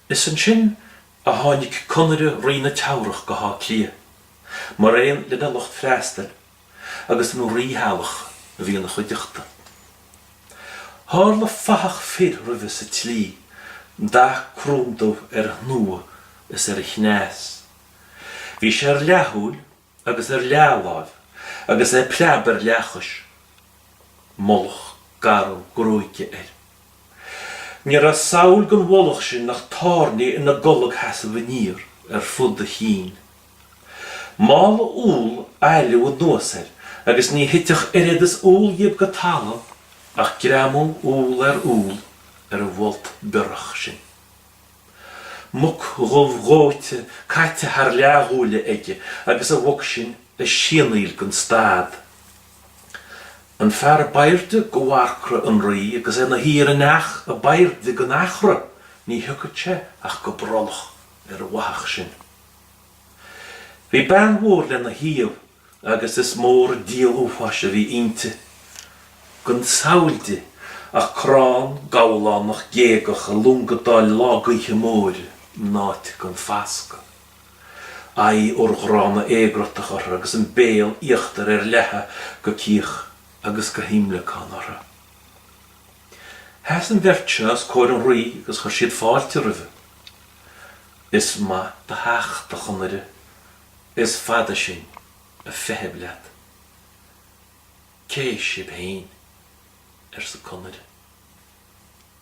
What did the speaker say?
Is ansin a tháinig Conaire Rí na Teamhrach go hÁth Cliath, maraon lena lucht freastail, agus an rítheaghlach a bhí ina chuideachta. Tharla fathach fir roimhe sa tslí, dath cróndubh ar a shnua is ar a chneas. Bhí sé ar leathshúil agus ar leathláimh agus é preab ar leathchois, mullach garbh gruaige air. Ní raibh samhail den mhullach sin ach tairní ina gcolgsheasamh aniar ar fud a chinn. Mála úll a fholmhú anuas air agus ní thitfeadh oiread is úll dhíobh go talamh ach greamú úll ar úll ar an bhfolt biorach sin. muc dhubh dhóite caite thar leathghuala aige agus an mhuc sin ag sianaíl gan stad. An fear ab airde de mharcra an rí agus é 'na shuí ar an each ab airde den eachra, ní thiocfadh sé ach go brollach ar an bhfathach sin. Bhí bean mhór lena thaobh agus is mór an díol uafáis a bhí inti, gan samhail di ach crann gabhlánach géagach ag longadáil lá gaoithe móire in áit gan fascadh, aghaidh urghránna éagruthach uirthi agus an béal íochtair ar leathadh go cíoch agus go himleacán uirthi. Sheas an bheirt seo os comhair an rí agus chuir siad fáilte roimhe. Is maith do theacht, a Chonaire, Is fada sinn a' feitheamh leat. Cé sib fhéin? arsa Conaire.